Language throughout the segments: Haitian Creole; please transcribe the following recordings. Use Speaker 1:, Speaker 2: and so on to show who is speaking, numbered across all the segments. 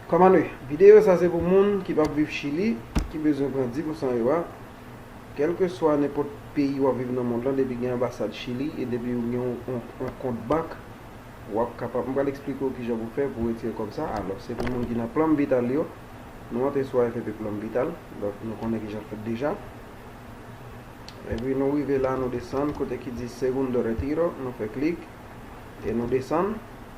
Speaker 1: Kòmande, Videyo sa se pou moun ki pap viv Chili, ki bezwen pran 10 pousan yo a. Kèlkeswa nenpòt peyi wap viv nan mond lan depi gen anbasad Chili e depi ou gen yon kont bank wap kapab, m pral eksplike w kijan pou fè pou retire kòb sa. Alò se pou moun ki nan Plan Vital yo, nou antre sou AFP Plan Vital, donk nou konnen kijan l fèt deja. Epi nou rive la nou desann kote ki di Segundo Retiro, nou fè klik e nou desann.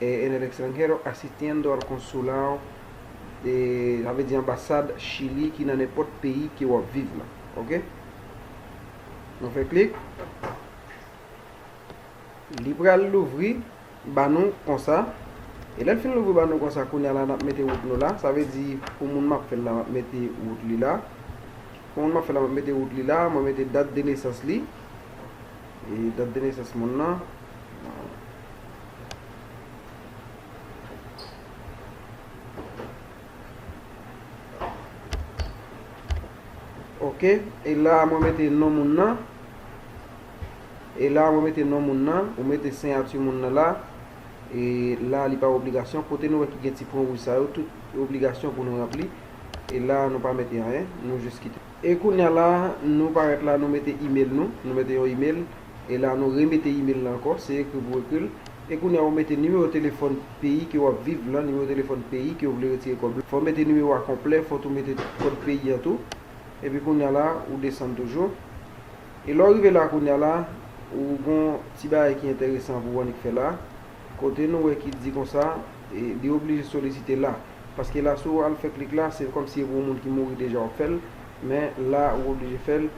Speaker 1: En el extranjero asistiendo al consulado de sa vle di anbasad Chili ki nan nenpòt peyi ke wap viv la ok nou fè klik li pral louvri ba nou konsa e lèl fin louvri ba nou konsa kounya la nap mete wout nou la sa vle di pou moun map fèl la map mete wout li la pou moun map fèl la map mete wout li la mwen mete dat de nesans li e dat de nesans moun nan Ok, e la mwen mete non moun nan. E la mwen mete non moun nan. Ou mete seyati moun nan la. E la li pa obligasyon. Kote nou wè ki gen ti pwen wouj sa yo, tout obligasyon pou nou ranpli. E la nou pa mete anyen. Nou jis kite. E kounya la, nou parèt la, nou mete email nou. Nou mete yon email. e la nou remete email lan ankò, se ekri pou ekri l, e kounye a ou mete nimewo telefòn peyi ke wap viv lan, nimewo telefòn peyi ke ou vle retire kòb lan, fò mete nimewo a konplè, fò tou mete kòd peyi an tou, epi kounye a la ou desann toujou, e lè ou rive la kounye a la ou gon ti bagay ki enteresan pou ou annik fè la, kote nou wè ki di konsa e li oblije solisite la, paske la si ou al fè klik la se kòmsi e pou moun ki mouri deja wap fè l, men la ou oblije fè l.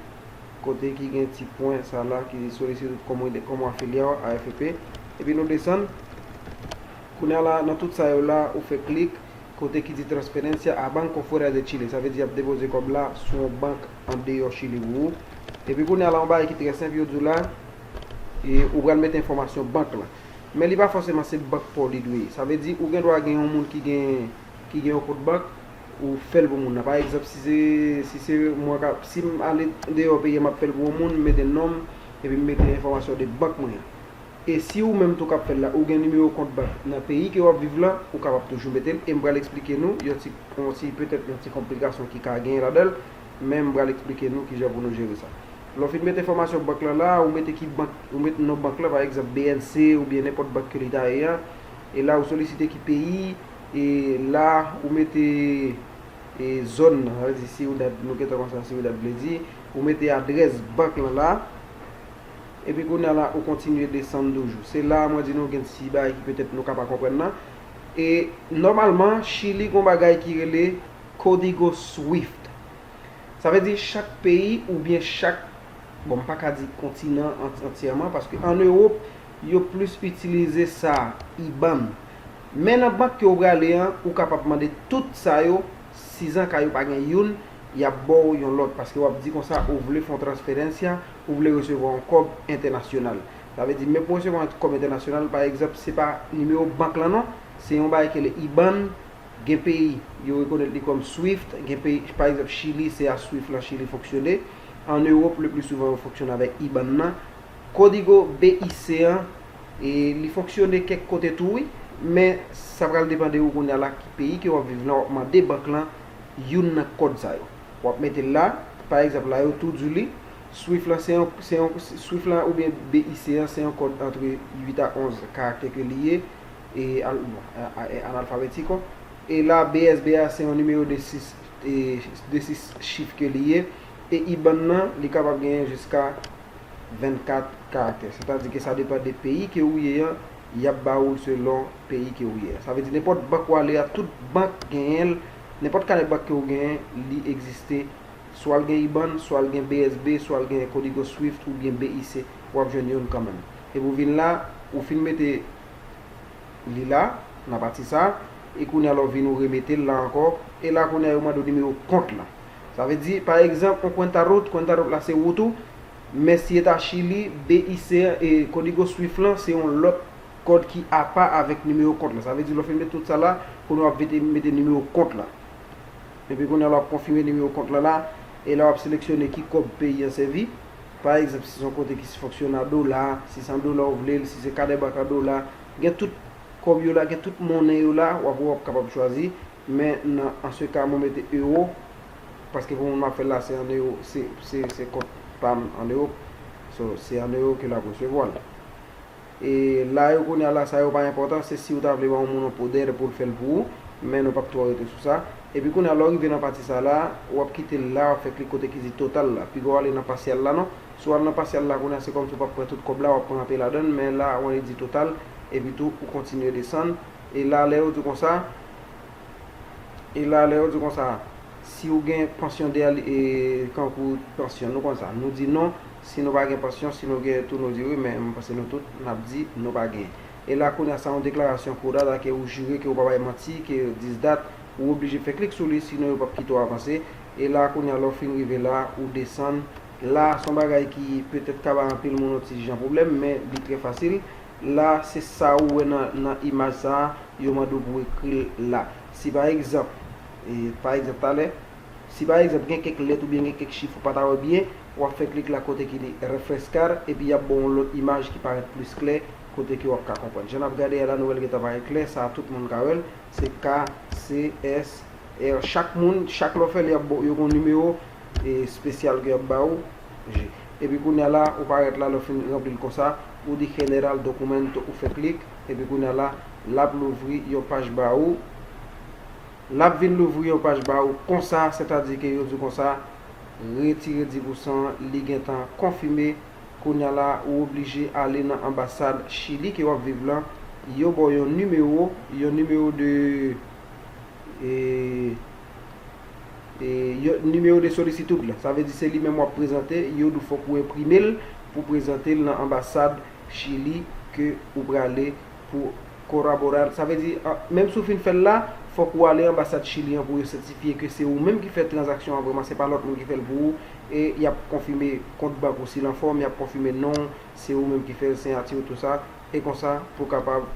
Speaker 1: kote ki gen ti pwen sa la ki di solisite tout komite komo afilya w AFP epi nou desann kounye a la nan tout sa yo la ou fè klik kote ki di transferencia a banco fuera de Chile sa vle di y ap depoze kòb la sou yon bank andeyò Chili pou ou epi kounye a la yon bagay ki trè senp yo di w la e ou pral mete enfòmasyon bank la men li pa fòseman se bank pa w li dwe ye sa vle di ou gen dwa gen yon moun ki gen yon kont bank Ou fèl pou moun nan pa egzanp si se si se mwen kap sim ale deyò peyi an map fèl pou yon moun m mete nonm epi m mete enfòmasyon de bank mwen an e si ou menm tou kap fèl la ou gen nimewo kont bank nan peyi ke wap viv lan ou kapab toujou metel e m pral esplike nou yon ti yon ti petèt yon ti konplikasyon ki ka genyen ladanl men m pral esplike nou kijan pou nou jere sa lè w fin met enfòmasyon bank lan la a ou mete ki bank ou met non bank lan pa egzanp bnc oubyen nenpòt bank ke li ta ye an e la ou solisite ki peyi E la ou mete e zòn nan, sa vle di Ciudad, nou gentan konn sa Ciudad vle di, ou mete adrès bank lan la, epi kounye a la ou kontinye desann toujou. Se la a mwen di nou gen ti bagay ki petèt nou ka pa konprann nan. E nòmalman Chili gon bagay ki rele Código Swift. Sa vle di chak peyi oubyen chak, bon m pa ka di kontinan antyèman paske an Ewop yo plis itilize sa, IBAN. Men nan bank ke ou prale an ou kapab mande tout sa yo sizan ka yo pa gen youn yap baw yon lòt paske wap di konsa ou vle fon transferencia ou vle resevwa yon kòb entènasyonal sa vle di men pou resevwa yon kòb entènasyonal pa egzanp se pa nimewo bank lan non se yon bagay ki rele iban gen peyi yo rekonèt li kòm swift gen peyi pa egzanp chili se a swift lan chili fonksyone an ewop le pli souvan yo fonksyone avèk iban nan kodigo BIC an E li fonksyone kèk kote tou wi, men sa pral depan de ou kounya la ki peyi ke wap viv lan wap mande bank lan youn nan kòd sa yo. Wap metel la, pa egzanp la yo tou diw li, swift lan se yon se yon swift lan oubyen BIC an se yon kòd antre 8 a 11 karaktè ke li ye e al bon e analfabetiko e la BSB a se yon nimewo de 6 e de 6 chif ke li ye e IBAN lan li kapab genyen jiska 24 karaktè. Sètadi ke sa depan de peyi ke ou ye an, y ap ba ou l selon peyi ke ou ye an. Sa vle di nenpòt bank ou ale a, tout bank genyen l, nenpòt kanè bank ke ou genyen, li egziste, swa l gen IBAN, swa l gen BSB, swa l gen Codigo Swift oubyen BIC, w ap jwenn youn kanmenm. Epi ou vin la, ou fin mete li la, nan pati sa, e kounye a la ou vin ou remete l la ankò, e la kounye a yo mande ou nimewo kont lan. Sa vle di, pa egzanp, yon kwenta route, kwenta route la se wout ou, men si eta Chili, BIC an, e kodigo Swift lan se yon lòt kòd ki apa avèk nimewo kont la. Sa vle di lè w fin met tout sa la, kounye a w ap vete mete nimewo kont la. Epi kounye a la w ap konfime nimewo kont la la, e la w ap seleksyone ki kòb peyi an sèvi. Pa egzanp, si se yon kote ki se fonksyone a dola, si se an dola w vle l, si se kadebank an dola, gen tout kòb yo la, gen tout monnen yo la, w ap wè w ap kapab chwazi. Men nan an se ka mwen mete euro paske pou moun map fèl la se an euro se kont pam an euro so se an euro ke lap resevwal e la yo kounye la sa yo pa enpòtan se si ou ta vle ba yon moun yon poder poul fèl pou ou men nou pap twò rete sou sa epi kounye la lè ou rive nan pati sa la wap kite l la wap fè klik kote ki di total la piga w ale nan pasyal la non si w al nan pasyal la kounye se kòmsi ou pap pran tout kòb la wap pran anpe ladann men la wè li di total epi tou ou kontinye desann E la lè yo di w konsa, e la lè yo di w konsa, si w gen pansyon dèyè l, e kankou pansyon, nou konn sa. Nou di non, si nou pa gen pansyon, si nou gen tou nou di wi, men mwen panse nou tout, n ap di nou pa gen. E la kounye a sa yon deklarasyon kou dat a ke ou jire ke ou pa bay manti, ke dis dat, ou oblije fè klik sou li sinon yo p ap kite w avanse. E la kounye a lè w fin rive la, ou desann. La, s on bagay ki petèt ka bay anpil moun yon ti jan pwoblèm men li trè fasil. la se sa ou wè nan imaj sa a yo mande w pou w ekri l la. Si pa egzanp, pa egzanp talè, si pa egzanp gen kèk lèt oubyen gen kèk chif ou pa ta wè byen, w ap fè klik la kote ki li Refrescar epi y ap ba w yon lòt imaj ki parèt plis klè kote ke w ap ka konprann. Jan n ap gade a la nou wè l gentan parèt klè, sa a tout moun ka wè l, se KCSR. Chak moun, chak lè w fè l y ap ba w, yo gen yon nimewo espesyal ke y ap ba ou je. Epi kounya la ou parèt la lè ou fin ranpli l konsa ou di General Documento ou fè klik epi kounya la lap louvri yon paj ba ou lap vin louvri yon paj ba ou konsa sètadi ke yo di w konsa retire 10 pou san li gentan konfime kounya la ou oblije ale nan anbasad Chili ke wap viv lan yo ba w yon nimewo yon nimewo de e. Yo numéro de sollicitude la. Sa vle di se li menm wap prezante, yo di w fòk ou enprime l pou w prezante l nan anbasad Chili ke ou prale pou koraborar. Sa vle di, menm si w fin fè l la, fòk ou ale anbasad Chili an pou yo sètifye ke se ou menm ki fè tranzaksyon an vrèman, se pa lòt moun ki fè l pou ou, e yap konfime kont bank ou si l anfòm, yap konfime non w, se ou menm ki fè l, siyati w, tou sa, e konsa pou w kapab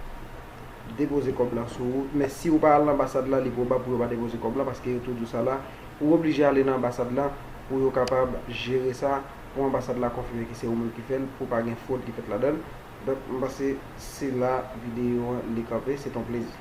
Speaker 1: depoze kòb la sou ou men si ou pa al nan anbasad la li pwobab pou yo pa depoze kòb la paske yo tou di w sa la ou oblije ale nan anbasad la pou yo kapab jere sa pou anbasad la konfime ke se ou menm ki fè l pou pa gen fwod ki fèt ladan l donk m panse se la videyo an li kanpe se t on plezi.